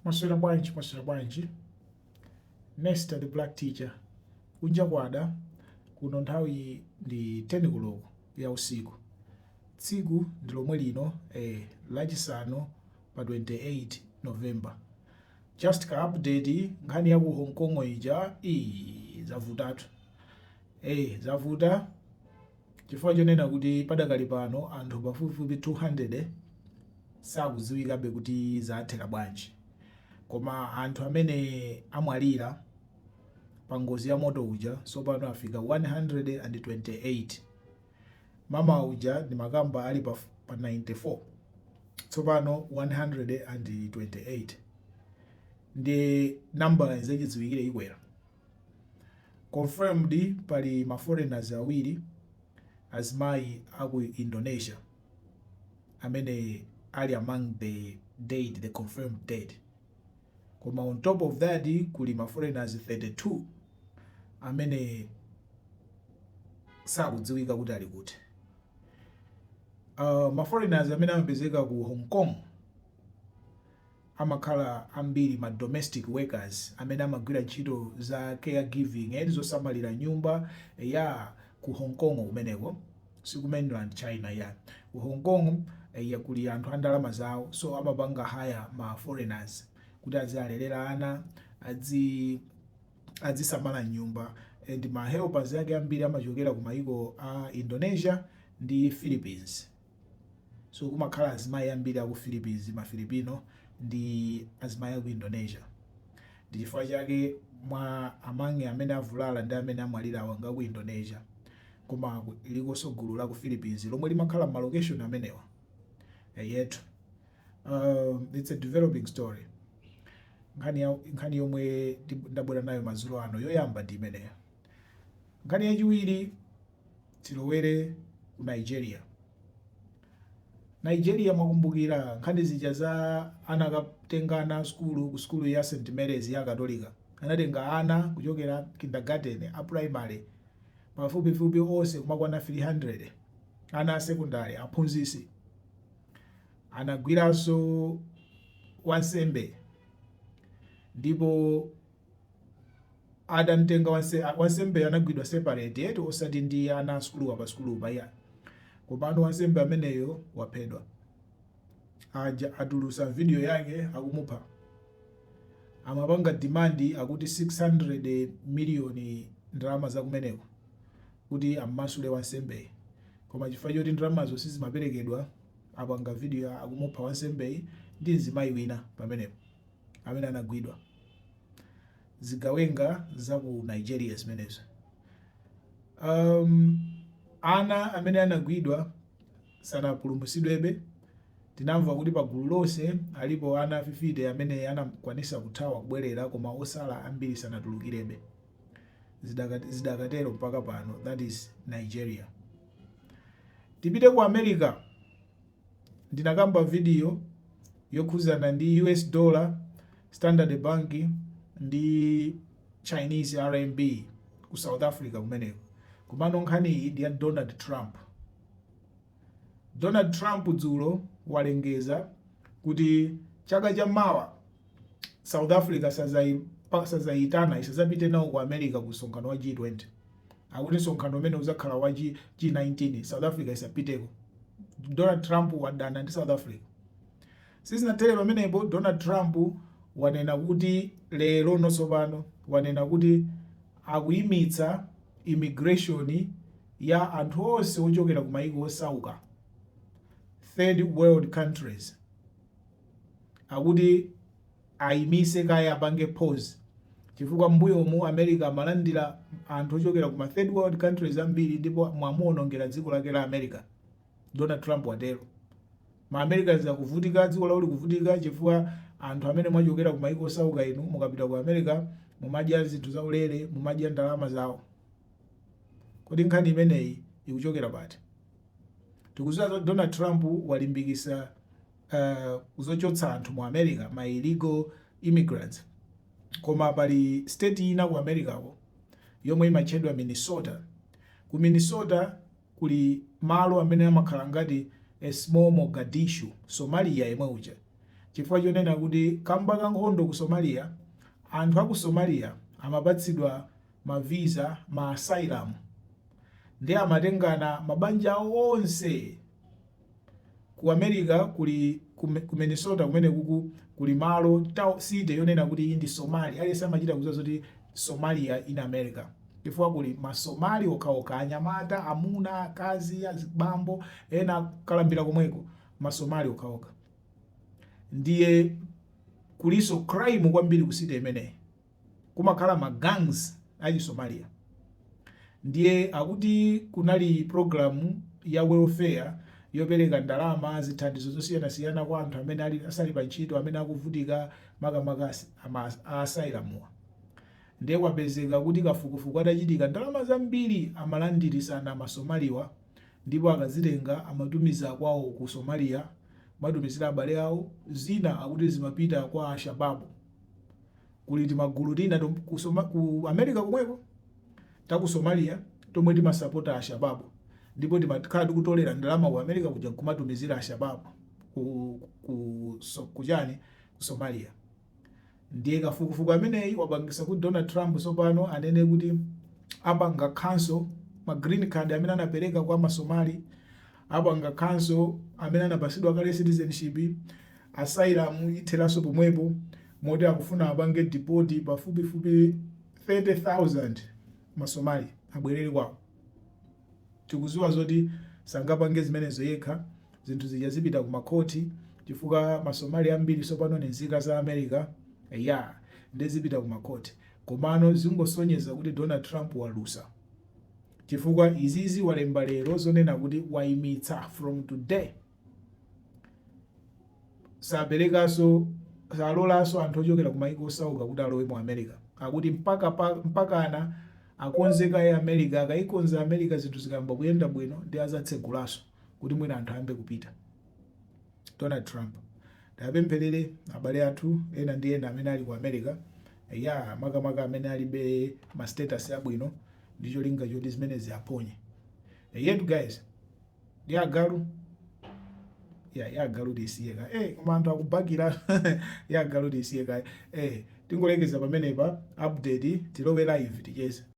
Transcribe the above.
Mwaswera bwanji, mwaswera bwanji. Nesta the black teacher. Kunja kwada kuno nthawi ndi 10 koloko ya usiku. Tsiku ndi lomwe lino eh, lachisanu pa 28 November. Just ka update nkhani ya ku Hong Kong ija iyi zavutatu. Eh, zavuta Chifukwa chonena kuti padakali pano anthu pafupifupi 200 sakudziwikabe kuti zathera bwanji. Koma anthu amene amwalira pa ngozi ya moto uja tsopano afika 128. Mamawa uja ndimakamba ali pa 94 tsopano 128 ndiye nambalayi zachidziwikire ikwera. Confirmed pali ma foreigners awiri azimayi aku Indonesia amene ali among the dead, the confirmed dead. Koma on top of that kuli ma foreigners 32 amene sakudziwika kuti ali kuti. Ma foreigners amene amapezeka ku Hong Kong amakhala ambiri ma domestic workers amene amagwira ntchito za care giving eti zosamalira nyumba eyaa ku Hong Kong kumeneko siku mainland China iyaa ku Hong Kong eya kuli anthu andalama zawo so amapanga hire ma foreigners kuti aziwalelera ana adzi adzisamala m'nyumba and ma helpers ake ambiri amachokera ku maiko a Indonesia ndi Philippines So kumakhala azimayi ambiri aku Philippines, ma Filipino ndi azimayi aku Indonesia. Ndi chifukwa chake mwa among amene avulala ndi amene amwalirawa ngaku Indonesia. Koma lilikonso gulu laku Philippines lomwe limakhala m'ma location amenewa. Eyetu. Uh, it's a developing story. Nkhani, ya, nkhani yomwe ndabwera nayo madzulo ano yoyamba ndi imeneyo. Nkhani yachiwiri tilowere ku Nigeria. Nigeria mwakumbukira nkhani zija za ana anakatenga ana sukulu ku sukulu ya St Mary's ya Katolika anatenga ana kuchokera kindergarten a primary pafupifupi onse kumakwana 300 ana a secondary aphunzitsi anagwiranso wansembe ndipo adamtenga wansembeyo anagwidwa separate eti osati ndi ana a sukuluwa pa sukulu paja komano wansembe ameneyo waphedwa atulusa video yake akumupha amapanga demand akuti 600 million ndalama zakumeneko kuti ammasule wansembeyi koma chifukwa choti ndalamazo sizimaperekedwa apanga video akumupha wansembeyi ndi mzimayi wina pamenepo amene anagwidwa. Zigawenga za ku Nigeria zimenezo. Um, ana amene anagwidwa sanapulumutsidwebe. Tinamva kuti pa gulu lonse alipo ana 50 amene anakwanisa kuthawa kubwerera, koma osala ambiri sanatulukirebe. Zidakatero mpaka pano. That is Nigeria. Tipite ku America. Ndinakamba vidiyo yokhuzana ndi US Dollar, Standard Bank ndi Chinese RMB ku South Africa kumeneko. Komano nkhaniyi ndi ya Donald Trump. Donald Trump dzulo walengeza kuti chaka cha mawa South Africa sazayitana isazapite nawo ku America ku msonkhano wa G20 akuti msonkhano umene uzakhala wa G, G19 South Africa isapiteko Donald Trump wadana ndi South Africa sizinathere pamenepo Donald Trump wanena kuti lero nosopano wanena kuti akuyimitsa immigration ya anthu onse ochokera ku mayiko osauka third world countries akuti ayimise kaye apange pause chifukwa mmbuyomu America amalandira anthu ochokera kuma third world countries ambiri ndipo mwamuonongera dziko lake la America Donald Trump watero. Ma Americans akuvutika dziko lawo likuvutika chifukwa anthu amene mwachokera ku maiko osauka inu mukapita ku America mumadya zinthu zaulere mumadya ndalama zawo. Kodi nkhani imeneyi ikuchokera pati? Tikuziwa Donald Trump walimbikisa kuzochotsa anthu mu America ma illegal immigrants, koma pali state ina ku America ko yomwe imatchedwa Minnesota. Ku Minnesota kuli malo amene amakhala ngati a small Mogadishu Somalia yemwe uja, chifukwa chonena kuti kamba ka nkhondo ku Somalia anthu a ku Somalia amapatsidwa ma visa, ma asylum nde amatengana mabanja awo onse. Ku America kuli ku ku Minnesota kumenekuku kuli malo city yonena kuti iyi ndi Somalia aliyense amachita kudziwa zoti Somalia in America chifukwa kuli ma Somali okhaokha anyamata, amuna, akazi, azibambo ena akalambila komweko ma Somali okhaokha ndiye kulinso crime kwambiri ku city imeneyi. kumakhala ma gangs achi Somalia ndiye akuti kunali program ya welfare yopereka ndalama, zithandizo zosiyanasiyana kwa anthu amene asali pa ntchito amene akuvutika makamaka a asylum wa ndiye kwapezeka kuti kafukufuku atachitika ndalama zambiri amalandirisana ma Somali wa ndipo akazitenga amatumiza kwawo ku Somalia kumatumizira abale awo, zina akuti zimapita kwa Alshababu. kuli timagulu tina tom, ku, Soma, ku America komweko ta ku Somalia tomwe timasapota Ashababu ndipo timakhala tikutolera ndalama ku America kuja nkumatumizira Ashababu ku, ku, so, ku chani ku Somalia ndiye kafukufuku ameneyi wapangisa kuti Donald Trump tsopano anene kuti apanga cancel ma green card amene anapereka kwa masomali Apanga cancel amene anapasidwa kale citizenship, asylum ithelaso pomwepo moti akufuna apange deport pafupi fupi 30,000 ma Somali abwelele kwawo. Tikuziwa zoti sangapange zimenezo yekha zinthu zija zipita ku ma court chifukwa ma Somali ambiri sopano ni nzika za America eyaa nde zipita ku ma court komano zingosonyeza kuti Donald Trump walusa. Chifukwa izizi walemba lero zonena kuti waimitsa from today saperekanso salolanso anthu ochokera kumaiko osauka kuti alowe mu America. Akuti mpaka pa, mpakana akonze kaye America, akaikonza America zinthu zikayamba kuyenda bwino ndi azatsegulanso kuti mwina anthu ayambe kupita. Donald Trump tapempherere abale athu ena ndi ena amene ali ku America ya makamaka amene alibe ma status abwino ndicholinga choti zimenezi ziwaphonye eyetu guys ndi agalu ya ya agalu tisiye kaye koma anthu akubakira ya agalu tisiye kaye tingolekeza pamenepa update tilowe live ticheze